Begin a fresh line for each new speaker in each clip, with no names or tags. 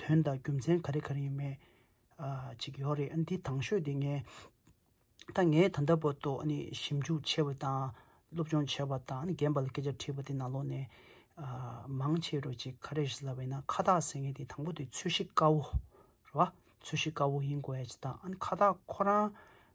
དོན་དང་རྒྱུ་མཚན་ག་རེ་ག་རེ་ཡིན་མེད་ཅིག་ཡོད་རེད་ཨ་འདི་དྭངས་ཤོས་དེ་ངས་ད་ངས་ད་ལྟ་བར་དུ་ཞིབ་འཇུག་བྱས་པ་དང་སློབ་སྦྱོང་བྱས་པ་དང་རྒན་པ་ལ་སྐད་ཆ་དྲིས་པ་དེ་ནང་ལོགས་ནས་མང་ཆེ་རུ་ཅིག་ག་རེ་རེད་ལབ་ཡོད་ན་ཁ་བཏགས་ཟེར་མཁན་དེ་དང་པོ་དེ་འཚོལ་ཤེས་དཀའ་བོ་རེད་བ། འཚོལ་ཤེས་དཀའ་བོ་ཡིན་དགོས་ཡ་ཅིག་དང་ཨ་ཁ་བཏགས་ཁོ་རང་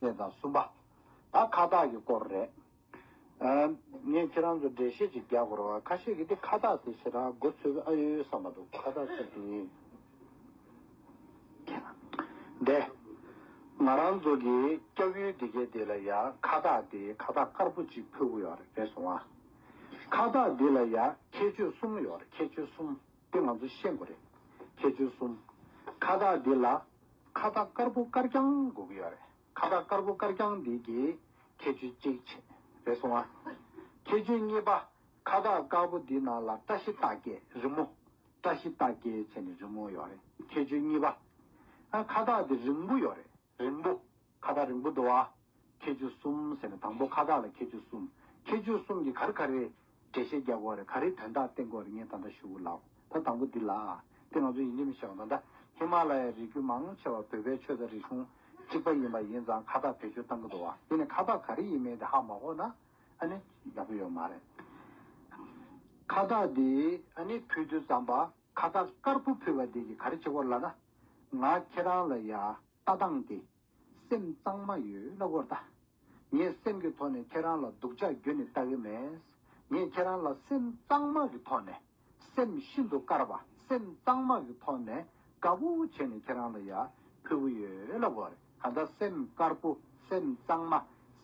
ཟེར་དང་གསུམ་པ།
ད་ཁ་བཏགས་ཀྱི་སྐོར་རེད། ངས་ཁྱེད་རང་ཚོར་འགྲེལ་བཤད་ཅིག་རྒྱག་དགོས་རོགས། ཁ་ཤས་ཀྱིས་འདི་ཁ་བཏགས་དེ་ཞེ་དྲག་མགོ་ཚོས་ཨ་ཡོད་ཡོད་བསམ་པ་འདུག་ཁ་བཏགས་ཅིག་ཡིན། དེ། ང་རང་ཚོ་གིས་སྐྱབས་ཡུལ་སྡེ་དགེ་འདི་ལ་ཡ་ཁ་བཏགས་དེ་ཁ་བཏགས་དཀར་པོ་ཅིག་ཕུལ་གི་ཡོད་རེད་སོང་ཨ། ཁ་བཏགས་འདི་ལ་ཡ་ཁྱད་ཆོས་གསུམ་ཡོད་རེད་ཁྱད་ཆོས་གསུམ་དེ་ང་ཚོ་ཤེས་དགོས་རེད། ཁྱད་ཆོས་གསུམ། ཁ་བཏགས་འདི་ལ། ཁ་བཏགས་དཀར་པོ་དཀར་རྐྱང་དགོས་ཀྱི་ཡོད་རེད། ཁ་བཏགས་དཀར་པོ་དཀར་རྐྱང་འདི་ཀྱི་ཁྱད་ཆོས་གཅིག་ཆེད་རེད་སོང་ཨ། ཁྱད་ཆོས་གཉིས་པ། ཁ་བཏགས་དཀར་པོ་འདི་ནང་ལ་བཀྲ་ཤིས་རྟགས་བརྒྱད་རི་མོ། བཀྲ་ཤིས་རྟགས་བརྒྱད་བྱས་ནས་རི་མོ་ཡོད་རེད། ཁྱད་ཆོས་གཉིས་པ། ཁ་བཏགས་འདི་རིང་པོ་ཡོད་རེད། རིང་པོ། ཁ་བཏགས་རིང་པོ་འདུག་ཨ། ཁྱད་ཆོས་གསུམ་ཟེར་ནས་དང་པོ་ཁ་བཏགས་ལ་ཁྱད་ཆོས་གསུམ། ཁྱད་ཆོས་གསུམ་གྱི་གར་ག་རེ། འགྲེལ་བཤད་རྒྱག་དགོས་རེད་ག་རེ་དོན་དག་བསྟན་དགོས་རེད་ངས་ད་ལྟ་ཞུ་ལགས་ད་དང་པོ་འདི་ལ། དེ་ང་ཚོ་ཡིན་རྒྱུ་མི་ཤེས་བ་ད་ལྟ་ཧི་མ་ལ་ཡའི་རིགས་རྒྱུད་མང་ཆེ་བ་བོད་པའི་ཆོས་དང་རིག་གཞུང་གཅིག་པ་ཡིན་པ་ཡིན་ཙང་ཁ་བཏགས་བེད་སྤྱོད་གཏང་གི་འདུག་ཨ་དེ་ནས་ཁ་བཏགས་ག་རེ་ཡིན་མིན་དེ་ཧ་མ་གོ་ན་ཨ་ནི་ཡག་པོ་ཡོད་མ་རེད། ཁ་བཏགས་འདི་ཨ་ནི་ཕུལ་དུས་ཙམ་པ་ཁ་བཏགས་དཀར་པོ་ཕུལ་བ་འདི་གི་ག་རེ་བྱེད་དགོས་ལ་ན། ང་ཁྱེད་རང་ལ་ཡ། ལྟ་སྟངས་དེ། སེམས་གཙང་མ་ཡོད་ལ་བོར་ལྟ། ངས་སེམས་ཀྱི་ཐོག་ནས་ཁྱེད་རང་ལ་སྡུག་ཅག་རྒྱུ་ནི་ལྟ་གི་མེད། ངས་ཁྱེད་རང་ལ་སེམས་གཙང་མ་གི་ཐོག་ནས། སེམས་ཤིན་ཏུ་དཀར་བ་སེམས་གཙང་མ་གི་ཐོག་ནས་དགའ་བོ་བྱས་ནས་ཁྱེད་རང་ལ་ཡར་ཕུལ་གི་ཡོད་ལ་བོར། ད་ལྟ་སེམས་དཀར་པོ་སེམས་གཙང་མ་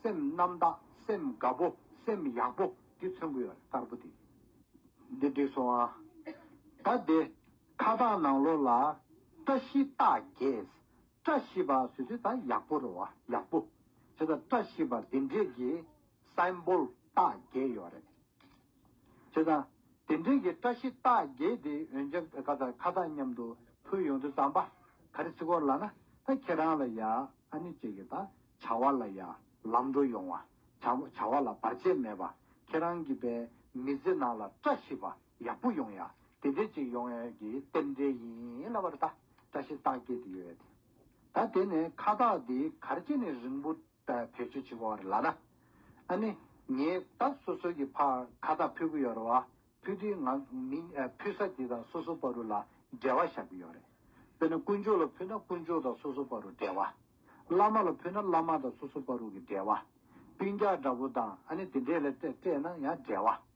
སེམས་རྣམ་དག་སེམས་དགའ་བོ་སེམས་ཡག་པོ་དེ་མཚོན་གི་ཡོད་ལ་དཀར་པོ་དེ། འདི་འགྲིག་སོང་ཨ། ད་དེ། ཁ་བཏགས་ནང་ལོགས་ལ། བཀྲ་ཤིས་རྟགས་བརྒྱད། བཀྲ་ཤིས་པ་སུད་སི་དང་ཡག་པོ་རེད་བ། ཡག་པོ། བྱས་ཙང་བཀྲ་ཤིས་པ་དེ་འདྲས་ཀྱི Symbol རྟགས་བརྒྱད་ཡོད་རེད། བྱས་ཙང་དེ་འདྲས་ཀྱི་བཀྲ་ཤིས་རྟགས་བརྒྱད་དེ་འོན་ཀྱང་ཁ་བཏགས་ཁ་བཏགས་མཉམ་དུ་ཕུལ་ཡོང་དུས་རྩམ་པ་ག་རེ་ཚིག་གོར་ལ་ན་ད་ཁྱེད་རང་ལ་ཡ་ཨ་ནི་བཅས་ཀྱི་ད་བྱ་བ་ལ་ཡ་ལམ་འགྲོ་ཡོང་བ། བྱ་བ་ལ་བར་ཆད་མེད་པ་ཁྱེད་རང་གི་པའི་མི་ཚེ་ནང་ལ་བཀྲ་ཤིས་པ། ཡག་པོ་ཡོང་ཡ། དེ་འདྲའི་ཅིག་ཡོང་ཡ་གི་རྟེན་འབྲེལ་ཡིན་ལ་བར་ད་བཀྲ་ཤིས་རྟགས་བསྐྱེད་དེ་ཡོད། ད་དེ་ནས་ཁ་བཏགས་འདི་གར་སྐྱེ་ནས་རིང་པོ་བེད་སྤྱོད་བྱེད་དགོས་བར་ལ་ན། ཨ་ནི། ངས་ད་སོ་སོའི་གི་ཕར་ཁ་བཏགས་ཕུལ་གི་ཡོད་རེད་བ། ཕུལ་དུས་ང་མི་ཕུལ་ས་དེ་དང་སོ་སོ་པ་རུ་ལ་འབྲེལ་བ་བཞག་གི་ཡོད་རེད། དཔེར་ན་དཀོན་མཆོག་ལ་ཕུལ་ན་དཀོན་མཆོག་དང་སོ་སོ་པ་རུ་འབྲེལ་བ། བླ་མ་ལ་ཕུལ་ན་བླ་མ་དང་སོ་སོ་པ་རུ་གི་འབྲེལ་བ། སྤུན་རྒྱག་འདྲ་པོ་དང་ཨ་ནི་དེ་འདྲས་ལ་སྤྲད་ན་ཡང་འབྲེལ་བ།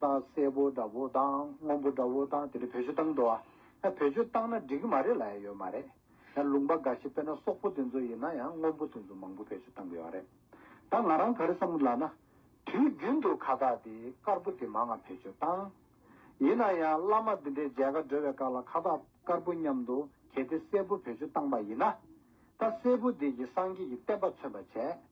ཏང་སེར་པོ་འདྲ་བོ་དང་སྔོན་པོ་འདྲ་བོ་དང་དེ་ནས་བོད་ཆོས་བཏང་འགྲོ་བ། བོད་ཆོས་བཏང་ན་འགྲིག་གི་མ་རེད་ལ་ཡ་ཡོད་མ་རེད། ལུང་པ་འགའ་ཞིག་དཔེར་ན་སོག་པོ་དེ་ཚོ་ཡིན་ན་ཡང་སྔོན་པོ་དེ་ཚོ་མང་པོ་བོད་ཆོས་བཏང་གི་ཡོད་པ་རེད། ད་ང་རང་ག་རེ་བསམ་ལ་ན། དུས་རྒྱུན་དུ་ཁ་བཏགས་དེ་དཀར་པོ་དེ་མང་ང་བོད་ཆོས་བཏང། ཡིན་ན་ཡང་བླ་མ་འདི་འདྲའི་མཇལ་ཁ་འགྲོ་བའི་སྐབས་ལ་ཁ་བཏགས་དཀར་པོ་མཉམ་དུ་གྱེས་ཏེ་སེར་པོ་བོད་ཆོས་བཏང་པ་ཡིན་ན། ད་སེར་པོ་དེ་གྱིས་སངས་རྒྱས་ཀྱི་བསྟན་པ་མཚོན་པར་བྱས།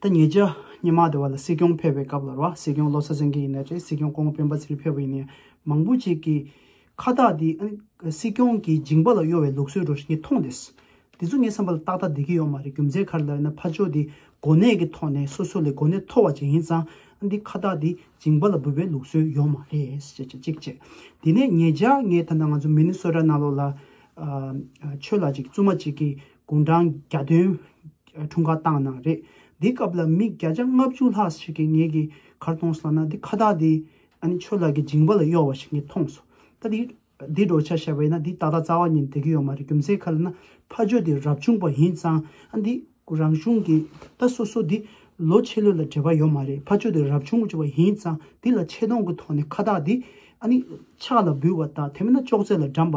ད་ཉེ་ཆར་སྙེ་མ་དེ་བ་ལ་སྲིད་སྐྱོང་ཕེབས་པའི་སྐབས་ལ་ར་བ་སྲིད་སྐྱོང་བློ་ས་ཟིན་གྱི་ཡིན་ནས་རེད་སྲིད་སྐྱོང་ཀོང་སྤེན་པ་ཚེ་རིང་ཕེབས་པ་ཡིན་ནས་མང་པོ་ཅིག་གིས་ཁ་བཏགས་འདི་ཨ་ནི་སྲིད་སྐྱོང་གི་འཇིང་པ་ལ་གཡོ་བའི་ལུགས་སྲོལ་རོ་ཞིག་ངས་མཐོང་དེས། དེ་ཚོ་ངའི་བསམ་པ་ལ་ཏག་ཏག་བསྡད་ཀྱི་ཡོད་མ་རེད་རྒྱུ་མཚན་ག་རེ་ལ་ཡིན་ན་ཕ་ཆོས་འདི་གོ་གནས་ཀྱི་ཐོག་ནས་སོ་སོ་ལས་གོ་གནས་མཐོ་བ་ཅིག་ཡིན་ཙང་ཨ་འདི་ཁ་བཏགས་འདི་འཇིང་པ་ལ་འབུལ་བའི་ལུགས་སྲོལ་ཡོད་མ་རེད་ཅེས་བྱས་གཅིག་བྱས། དེ་ནས་ཉེ་ཆར་ངས་ད་ལྟ་ང་ཚོ་མི་ནི་སོ་ར་ན་ལོ་ལ། ཆོས་ལ་ཅིག་བཙུན་མ་ཅིག་གིས་དགུང་གྲངས་བརྒྱ་སྟོན་འཁྲུངས་སྐར་བཏང་གནང་རེད། འདི་སྐབས་ལ་མི་བརྒྱ་ཆ་ལྔ་བཅུ་ལྷག་ཞིག་གིས་ངེད་ཀྱི་གར་གཏོང་སོང་ན་འདི་ཁ་བཏགས་འདི་ཨ་ནི་ཆོས་ལགས་ཀྱི་འཇིང་པ་ལ་གཡོག་བ་ཞིག་ངས་མཐོང་སོང། ད་འདི་འདི་འགྲོ་ཆ་ཞེས་པ་ཡིན་ན་འདི་ད་ལྟ་རྩ་བ་ཉིད་འདེགས་ཀྱི་ཡོད་མ་རེད་རྒྱུ་མཚན་ག་ལ་ན་ཕ་ཇོ་འདི་རབ་བྱུང་པ་ཡིན་ཙང་ཨ་འདི་རང་གཞུང་གི་ད་སོ་སོ་འདི་ལོ་ཕྱེད་ལོད་ལ་འབྲེལ་བ་ཡོད་མ་རེད་ཕ་ཇོ་འདི་རབ་བྱུང་བ་ཡིན་ཙང་འདི་ལ་ཆེ་མཐོང་གི་ཐོག་ནས་ཁ་བཏགས་འདི་ཨ་ནི་ཕྱག་ལ་འབུལ་བ་དང་དེ་མིན་ན་ཅོག་ཙེ་ལ་འགྲམ་པ